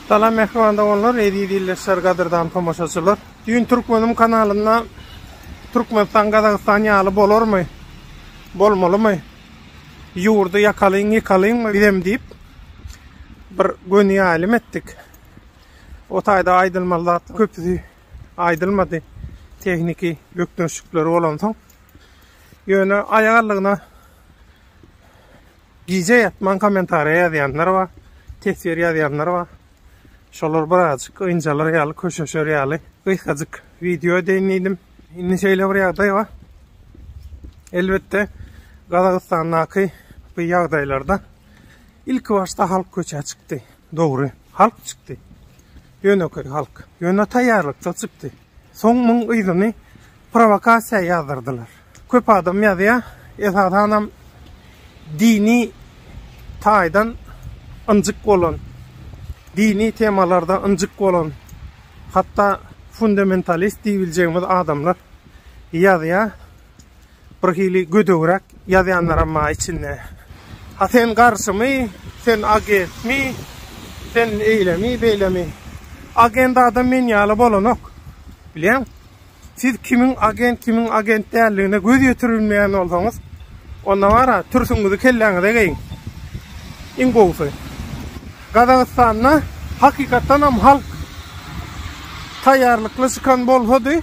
Salam mähriban doganlar, eziz ildeşler, gadyrdan tomaşaçylar. Düýn Türkmenim kanalynda Türkmenistan Gazagystan ýaly bolarmy? Bolmalymy? Ýurdy ýakalyň, ýykalyňmy bizem diýip bir göni ýaýlym etdik. O taýda aýdylmaly zat köpüsi aýdylmady. Tehniki bökdençlikleri bolansoň. Ýöne aýagallygyna Gije ýatman kommentariýa ýazýanlar bar, teswir ýazýanlar bar. Şolar birazjyk ynjalar ýaly, köşeşer ýaly gysgajyk wideo edeýin diýdim. Indi şeýle bir ýagdaý bar. Elbetde, Gazagystandaky bu ýagdaýlarda ilki başda halk köçä çykdy. Dogry, halk çykdy. Ýönekeý halk. Ýöne taýýarlyksyz çykdy. Soň muň yzyny prowokasiýa ýazdyrdylar. Köp adam ýazýar, esasanam dini taýdan ynjyk bolan, dini temalarda ynjyk bolan, hatda fundamentalist diýibiljegimiz adamlar ýazýar. Bir hili gödegräk ýazýanlaram bar içinde. Ha sen garşymy, sen agentmi, sen eýlemi, beýlemi. Agent adam men ýaly bolanok. Bilýäň? Siz kimiň agent, kimiň agent däldigine göz ýetirilmeýän bolsaňyz, onda bar-a, türsüňizi kelläňize geýiň. Iň gowusy. Gazagystanda hakykatdanam halk taýýarlykly çykan bolsady,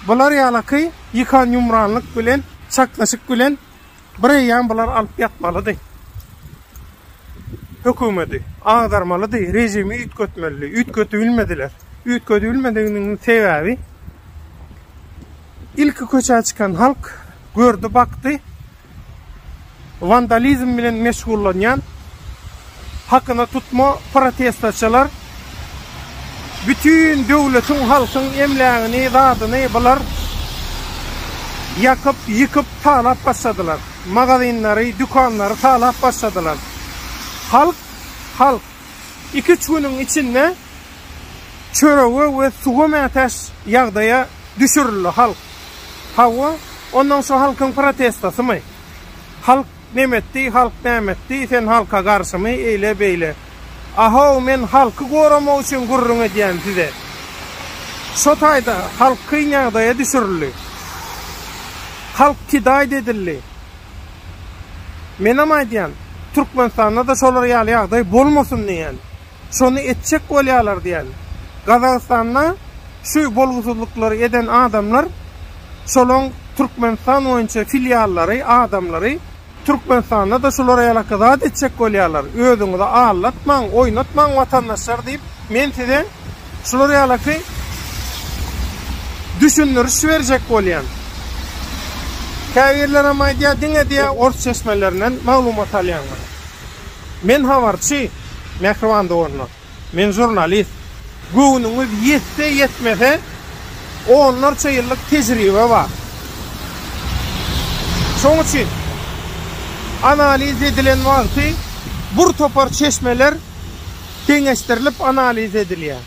Bular ýalaky ýykan-ýumranlyk bilen, çaknyşyk bilen bir eýýam bular alyp ýatmalydy. Hökümedi agdarmalydy, režimi üýtgetmelidi. Üýtgedibilmediler. Üýtgedibilmediginiň sebäbi ilki köçä çykan halk gördi, bakdy. wandalizm bilen meşgullanýan hakyna tutma protestçiler bütin döwletiň, halkyň emlägini, zadyny bular ýakyp, ýykyp talap başladylar. Magazinleri, dükanlary talap başladylar. Halk, halk iki-üç günüň içinde çörege we suwa mätäç ýagdaýa düşürildi halk. Hawa, ondan şu halkyň protestosymy? Halk nemetdi, halk nämetdi, sen halka garşymy, eýle-beýle. A-how, men halky goramak üçin gürrüň edýän size. Şo taýda halk kyn ýagdaýa düşürildi. Halk kidaýt edildi. Menem aýdýan, Türkmenistanda-da şolar ýaly ýagdaý bolmasyn diýýän. şony etjek bolýarlar diýeli. Gazagystanda şu bolgusyzlyklary eden adamlar şolaň Türkmenistan boýunça filiallary, adamlary Türkmenistanda-da şulara ýalaka zat etjek bolýarlar. Özüňizi aldatmaň, oýnatmaň watandaşlar diýip men size şular ýalaky düşündiriş berjek bolýan. Käbirlerem aýdýar diňe diýýär ors çeşmelerinden maglumat alýanlar. Men habarçy, mähriban doganlar. Men žurnalist. Göwnüňiz ýetse-ýetmese, onlarça ýyllyk tejribe bar. Şoň üçin analiz edilen wagty bir topar çeşmeler deňeşdirilip analiz edilýär.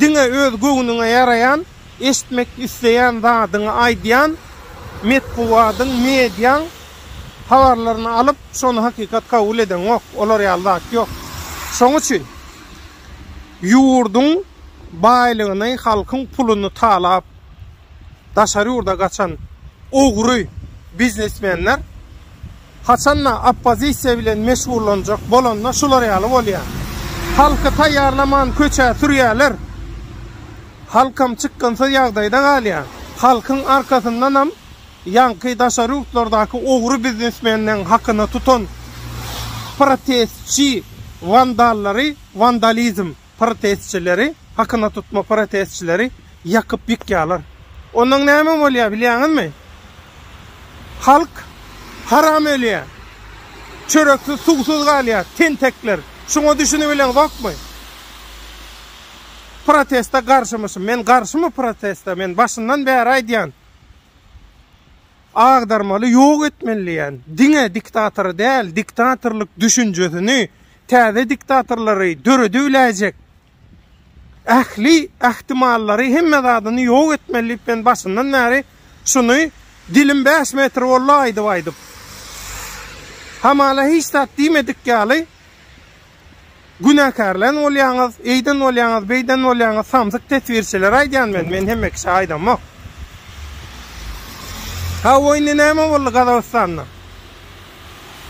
Diňe öz göwnüňe ýaraýan Eşitmek isleýän zadyňy aýdýan, metbugadyň, mediaň habarlaryny alyp, şony hakykat kabul edeňok. Olar ýaly zat ýok. Şoň üçin ýurduň baýlygyny, halkyň puluny talap, daşary ýurda gaçan ogry biznesmenler Haçan-da oppozisiýa bilen meşgullanjak bolanda şular ýaly bolýar. Halky taýýarlaman köçä sürýärler. Halkam çykgynsyz ýagdaýda galýar. Halkyň arkasyndanam ýaňky daşary ýurtlardaky ogry biznesmenleň hakyna tutan protestçi wandallary wandalizm. protestçileri, hakyna tutma protestçileri ýakyp ýykýarlar. Ondan näme bolýar bilýäňizmi? Halk haram ölýär. Çöreksiz, suwsuz galýar, tentekler. Şuňa düşünibiliňzokmy? Protesta garşymyşym. Men garşymyň protesta. Men başyndan bäri aýdýan. Agdarmaly, ýok etmeli diýýän. Diňe diktatory däl, diktatorlyk düşünjesini Täze diktatorlary döredibiläýjek ähli ähtimallary hemme zadyny ýok etmeli diýip men başyndan bäri şuny dilim bäş metr boldy aýdyp aýdyp. Hamala hiç zat diýmedik ýaly günäkärlän bolýaňyz, eýden bolýaňyz, beýden bolýaňyz samsyk teswirçiler aýdýan men, men hemme kişä aýdamok. Hawa indi näme boldy Gazagystanda?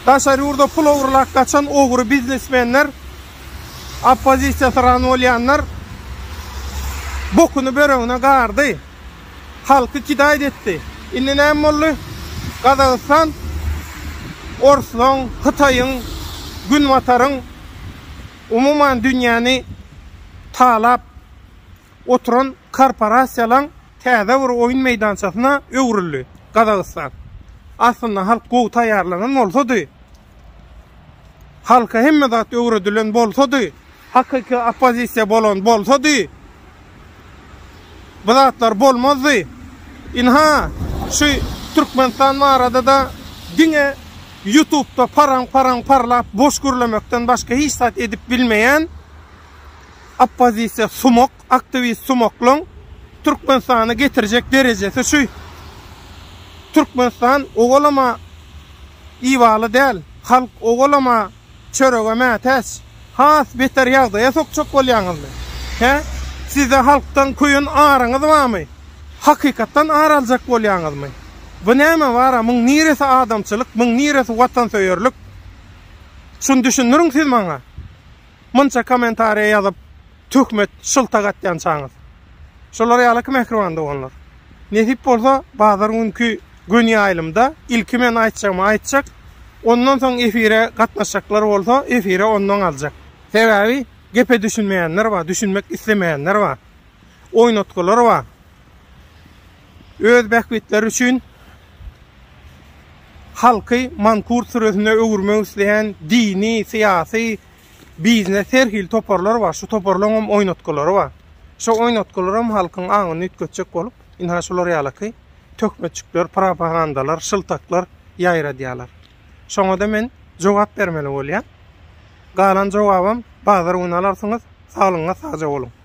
Daşary ýurda pul ogurlap gaçan ogry biznesmenler, oppozisiýa syran bolýanlar bokuny böregine gardy. Halky kidaýt etdi. Indi näme boldy? Gazagystan orslaň, hytaýyň, günbataryň, umuman dünýäni talap, oturan korporasiýalaň täze bir oýun meýdançasyna öwrüldi Gazagystan. Aslynda halk gowy taýýarlanan bolsady, halka hemme zat öwredilen bolsady, hakyky oppozisiýa bolan bolsady, bu zatlar bolmazdy. Ynha, şu Türkmenistan barada-da diňe ýutubda paraň-paraň parlap boş gürlemekden başga hiç zat edip bilmeýän oppozisiýa sumak, aktiwist sumaklaň Türkmenistana getirjek derejesi şu. Türkmenistan owalama ibaly däl, halk owalama çörege mätäç. Has beter ýagdaýa sokjak bolýaňyzmy? Hä? Sizde halkdan köýen aryňyz barmy? Hakykatdan ar aljak bolýaňyzmy? Bu näme bar-a, muň niresi adamçylyk, muň niresi watansöýerlik? Şuny düşündiriň siz maňa. Munça komentariýa ýazyp töhmet şyltak atýançaňyz. Şular ýaly ki mähriban doganlar. Nesip bolsa bazar günki göni ýaýlymda ilki men aýtjagymy aýtjak, ondan soň efire gatnaşjaklar bolsa efire ondan aljak. Sebäbi gepe düşünmeýänler bar, düşünmek islemeýänler bar. Oýnatgylar bar. Öz bähbitleri üçin halky mankurt süresine öwürmek isleýän dini, syýasy, biznes her hili toparlar bar. Şu toparlaryň hem oýnatgylary bar. Şo oýnatgylar hem halkyň aňyny üýtgetjek bolup, ynha şular ýalyky töhmetjikler, propagandalar, şyltaklar ýaýradýarlar. Şoňa-da men jogap bermeli bolýan. Galan jogabam bazar güni alarsyňyz. Saglygyňyza sagja boluň.